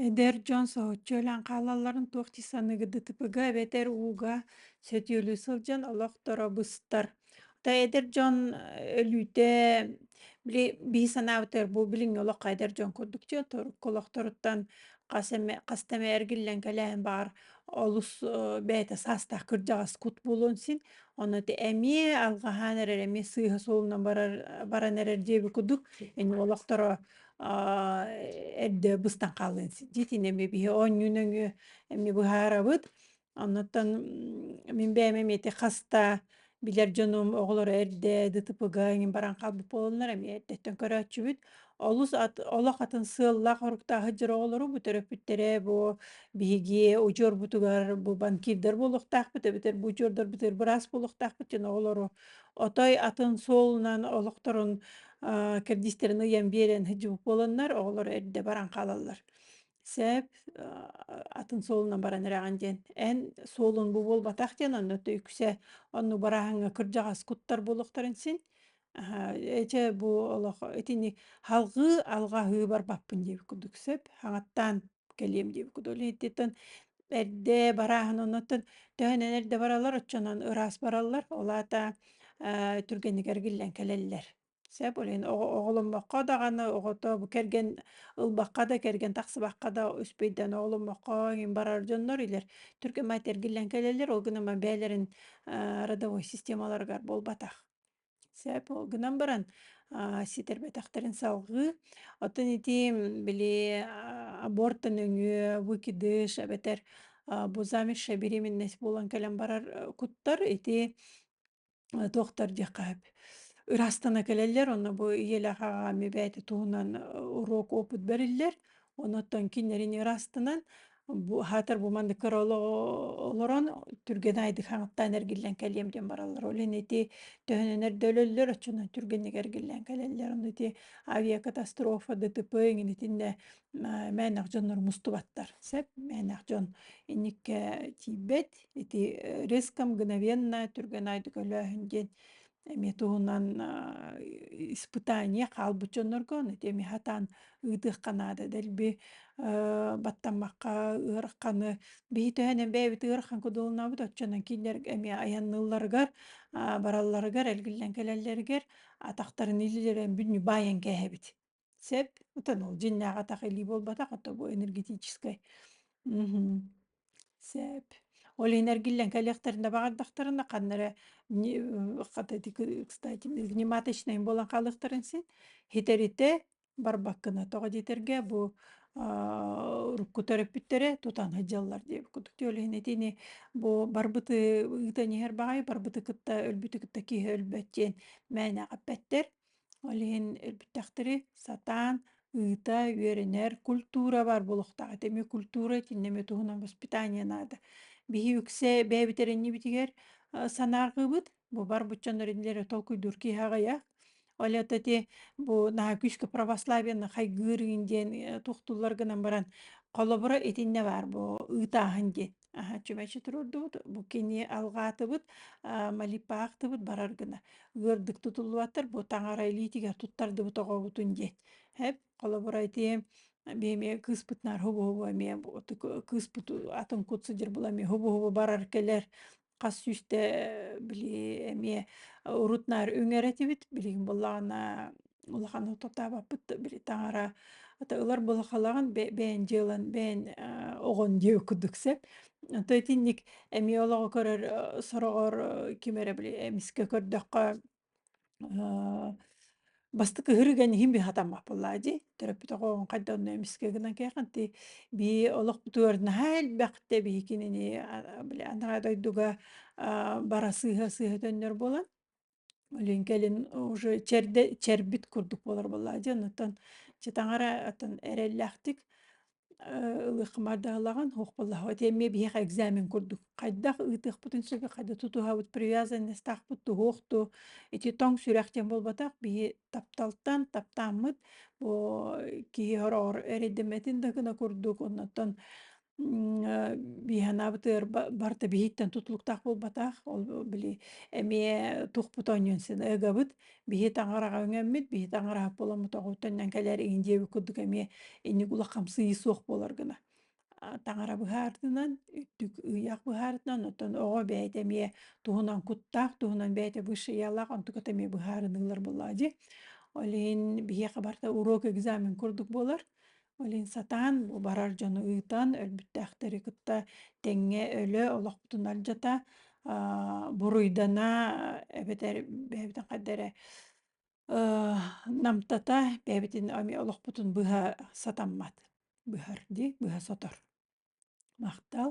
Эдэр дьон соһуччу өлөн хаалалларын туох дии саныгыдытыпыга эбэтэр ууга сөтүөлүү сылдьан олохторо быстар. То эдэр дьон э, өлүүтэ били бии санаабытыгар бу билиҥҥи олоххо эдэр дьон курдук дьэ торукку олохторуттан хас эмэ хаста эмэ эргиллэн кэлээн баҕар олус э, бэйэтэ саастаах кырдьаҕас кут буолуон син ону ити эмиэ алҕаһаан эрэр эмиэ сыыһа суолунан барар баран эрэр диэби кудук ини олохторо эрдэ быстан хаалыан дитин эми биһи оонньуу нөҥүө эми быһаарабыт. Оннуттан мин бэйэм эмиэти хаста билэр дьонум оҕолоро эрдэ ДТП-га эҥин баран хаалбыт буолаллар эмиэ эрдэттэн көрөөччүбүт. Олус ат олох атын сыаллаах-соруктаах сылдьар оҕолору бу төрөппүттэрэ бу биһиги удьуорбутугар бу банкирдар буолуохтаахпыт эбэтэр бу удьуордарбытыгар быраас буолуохтаахпыт диэн оҕолору отой атын суолунан олохторун кэрдиистерин ыйан биэрэн сыдьыгы буоланнар оҕолоро эрдэ баран хаалаллар. Сээп атын суолунан баран эрэҕин диэн эн суолун бу буолбатах диэн онно то үксэ онну барааһыҥҥа кырдьаҕас куттар буолуохтарын син эчэ бу олох итини халҕыы алҕаһыы барбаппын диэбит курдук сөп хаҥаттаан кэлиэм диэбит кудуолиһиттэн эрдэ барааһын оннуттан төһөн эрдэ бараллар оччонон ыраас бараллар ол аата э, түргэнигэр гиллэн кэлэллэр сеп олен оҕоломмокко даҕаны оҕото бу кэргэн ылбакка да кэргэн тахсыбакка да үспүйдэн оҕоломмокко иһин барар дьоннор илер түргэн майтер гиллэн кэлэллэр ол гынан бээлерин э, родовой системаларыгар буолбатах Сөп, ол гынан баран, а, ситэрбэтэхтэрин салҕыы. Оттон ити, били, а, аборт нөҥүө выкидыш эбэтэр, а, бу замершая беременность буолан кэлэн барар, э, куттар ити, э, туохтар диэххэ сөп, ыраастана кэлэллэр. Онно бу ийэлээх аҕам эбээтэ туһунан, э, уруок опыт бэриллэр. Онуттан кинилэри ыраастанан, Бу хаатар бу маннык көр олорон түргэн айдыхаҥыттан эргиллэн кэлиэм диэн бараллар. Ол иһин ити төһөнөнөр да өлөллөр, оччонон түргэнник эргиллэн кэлэллэр. Ону ити авиакатастрофа ДТП иҥин итиннэ мээнэх дьоннор мустубаттар. Сөп, мээнэх дьон инникке тиийбэт. Ити риском мгновенно түргэн айдык өлөөһүн диэн Эми туһунан испытание хаалбыт дьоннорго ону теми хатаан ыытыахха наада дэлби баттаммакка ыарахханы биһи төһөнөн бэйэбит ыарахан кудулунабыт оччонон кинилэр эми айанныылларыгар баралларыгар эргиллэн кэлэллэригэр атахтарын илилэрин бүтүнү баайан кээһэбит Сөп. Утанал дьиннээх атах илии буолбатах, а то бу энергетическай. Мгм. Сөп. Ол иһин эргиллэн кэлиэхтэринэ баҕардахтарына ханна эрэ не э, хата ити ки кстати гнематочнай буолан хаалыахтарын син, һитэритэ барбаккына тоҕо диэтэргэ бу, аа, урукку төрөппүттэрэ тутан һыдьаллар диэбит курдук. Ол иһин итини бу барбыты ыытан иһэр баҕайы барбыты кытта өлбүтү кытта киһи өлбөт диэн мээнэ эппэттэр. Ол иһин өлбүттэхтэрэ сатаан ыыта, үөрэнэр культура бар буолуохтаах этэ. Эмиэ культура итиннэ эмиэ туһунан воспитание наада. Биһи үксэ бэйэбитэриннибитигэр э, санааргыбыт, бу бар буччаннар инилэри толкуйдуур киһи аҕыйа. Ол это те бу наһаа күүскэ православиена хайгыыр диэн э, тухтуллар гынан баран холобура итиннэ баар бу ыытааһын диэн. Аха, чүмэчи турурдубут, бу кини алгаатыбыт, а, малипаахтыбыт барар гына. Ыырдык тутуллубаттар, бу таҥара илиитигэр туттардыбыт оҕобутун диэт. Хэп, холобура итиэм, бэйэмэ кыыспыт наар хубу-хубу эмиэ бу кыыспыт атын кут сыдьыр була эмиэ хубу-хубу барар кэлэр. Хас сүүстэ били эмиэ урут наар үҥэр этибит, билигин буоллаҕына улахан ототаабаппыт да били таҥара ата ылар былахалаҕын бэйэн дьыалан бэйэн оҕон диэ курдук сэп то итинник эмиэ олоҕу көрөр сороҕор ким эрэ били эмискэ көрдөххө бастакы ырыган иһин быһатаммаппыллаа дии төрөппүт оҕоҕун хайда онно эмискэ гынан кээхэнти бии олохпутугар наһаа элбэхтэ биһикинини били анараа дойдуга бара сыыһа сыыһа төннөр буолан Блин, кэлин уже чэрдэ чэрбит курдук буолар буоллаа дьон, оттон чэ таҥара оттон эрэллээхтик э, ылыаххамардаһалаҕын охполлоһобут эмиэ биһиэхэ экзамен курдук хайдах ыытыахпытын сөбө хайда тутуһабыт привязанностаахпыт туһуох дуу ити тоҥ сүрэх диэн буолбатах биһи тапталтан таптааммыт бу киһи ороҕор эрэйдэммэтин да гына курдук оннуттан Биһанаабыт ыр барыта биһиттэн тутулуктаах буолбатах. Ол били эмиэ тукпут оонньуун син ыгабыт. Биһи таҥараҕа үҥэммит, биһи таҥараһа поламутоҕуттан кэлэр иһин диэбит курдук эмиэ инник улах хамсыы суох буолар гына. Таҥара быһаартынан, үттүк ыйах быһаарытынан, оттон оҕо бэйэтэ эмиэ туһунан куттаах, туһунан бэйэтэ высшиялаах, онтуката эмиэ быһаарыныылар буоллаа дии. Ол иһин биһиэхэ барыта уруок экзамен курдук буолар. Блин, сатаан бу барар дьону ыытан, өлбүттээхтэри кытта тэҥҥэ өлө олохпутун алдьата, аа, буруйдана, эбэтэр бэйэбитин хайда эрэ Э, намтата, бэйэбитин эмиэ олохпутун быһа сатаммат. Быһар дии, быһа сотор. Махтал.